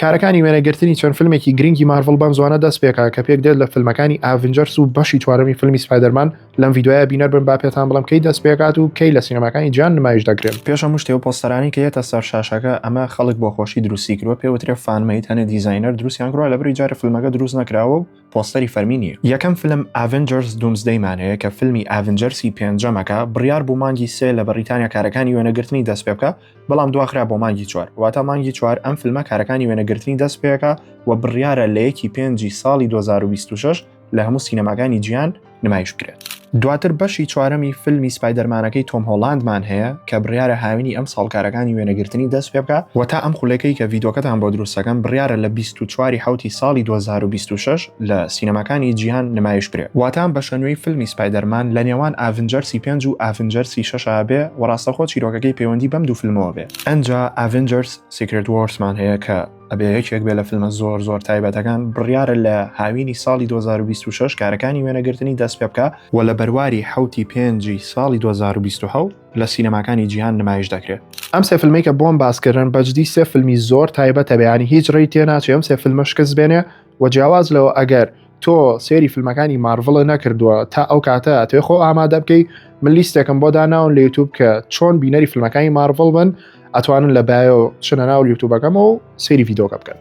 کارەکانی وێنەگرتنی چەند فیلمێکی گرنگی مارڤڵ بەم زوانە دەست پێکا کە پێک دێت لە فیلمەکانی ئاڤنجەرس و بەشی چوارەمی فیلمی سپایدەرمان لەم یددیوایە بینەر بن با پێتان بڵم کەی دەست پێکات و کەی لە سینەماکانی جیان نمایش دەکرێن پێش هەموو شتێ و پۆستەرانەی کە یەتە سەر شاشەکە ئەمە خەڵک بۆ خۆشی دروستی کروە پێ وترێ فان مەید هەنێ دیزاینەر دروستیان کروە لە بری جارێ فیلمەکە دروست نەکراوە و پۆستەری فەرمی نییە یەکەم فیلم ئاڤنجەرس دومزدەیمان هەیە کە فیلمی ئاڤنجەرسی پێنجەمەکە بڕیار بوو مانگی سێ لە بەڕیتانیا کارەکانی وێنەگرتنی دەست پێ بکا بەڵام دواخرا بۆ مانگی چوار واتا مانگی چوار ئەم فیلمە کارەکانی وێنەگرتنی دەست پێەکە و بڕیارە لە یەکی پێنجی ساڵی 2026 لە هەموو سینەماکانی جیان نمایش بکرێت دواتر بەشی چوارەمی فیلمی سپایدەرمانەکەی تۆم هۆڵاندمان هەیە کە بڕیارە هاوینی ئەم ساڵکارەکانی وێنەگرتنی دەست پێ بکە و تا ئەم خولەکەی کە ڤیدۆکەتان بۆ دروستەکەم بڕیارە لە 24 حوتی ساڵی 2026 لە سینەماکانی جیهان نمایش کرێ واتام بەشە نوێی فیلمی سپایدەرمان لە نێوان ئاڤنجەرسی پێنج و ئاڤنجەرسی شەشا بێ و ڕاستەخۆ چیرۆکەکەی پەیوەندی بەم دوو فیلمەوە بێ ئەنجا ئاڤنجەرس سیکرێت وۆرسمان هەیە کە ئەبێ یەکێک بێ لە فیلمە زۆر زۆر تایبەتەکان بڕیارە لە هاوینی ساڵی 2026 کارەکانی وێنەگرتنی دەست پێ بکە و لە بەرواری حوتی پێنجی ساڵی 2020 لە سینەماکانی جیهان نمایش دەکرێت ئەم سێ فیلمی کە بۆم باسکردن بەجدی سێ فیلمی زۆر تایبەتە بەیانی هیچ ڕێی تێ ناچێ ئەم سێ فیلمە شکست بێنێ وە جیاواز لەوە ئەگەر تۆ سێری فیلمەکانی مارڤڵە نەکردووە تا ئەو کاتە توێ خۆ ئامادە بکەی من لیستێکم بۆ داناون لە یوتوب کە چۆن بینەری فیلمەکانی مارڤڵ بن ئەتوانن لە بایۆ شنە ناو یوتوبەکەمەوە سێری یددیوکە بکەن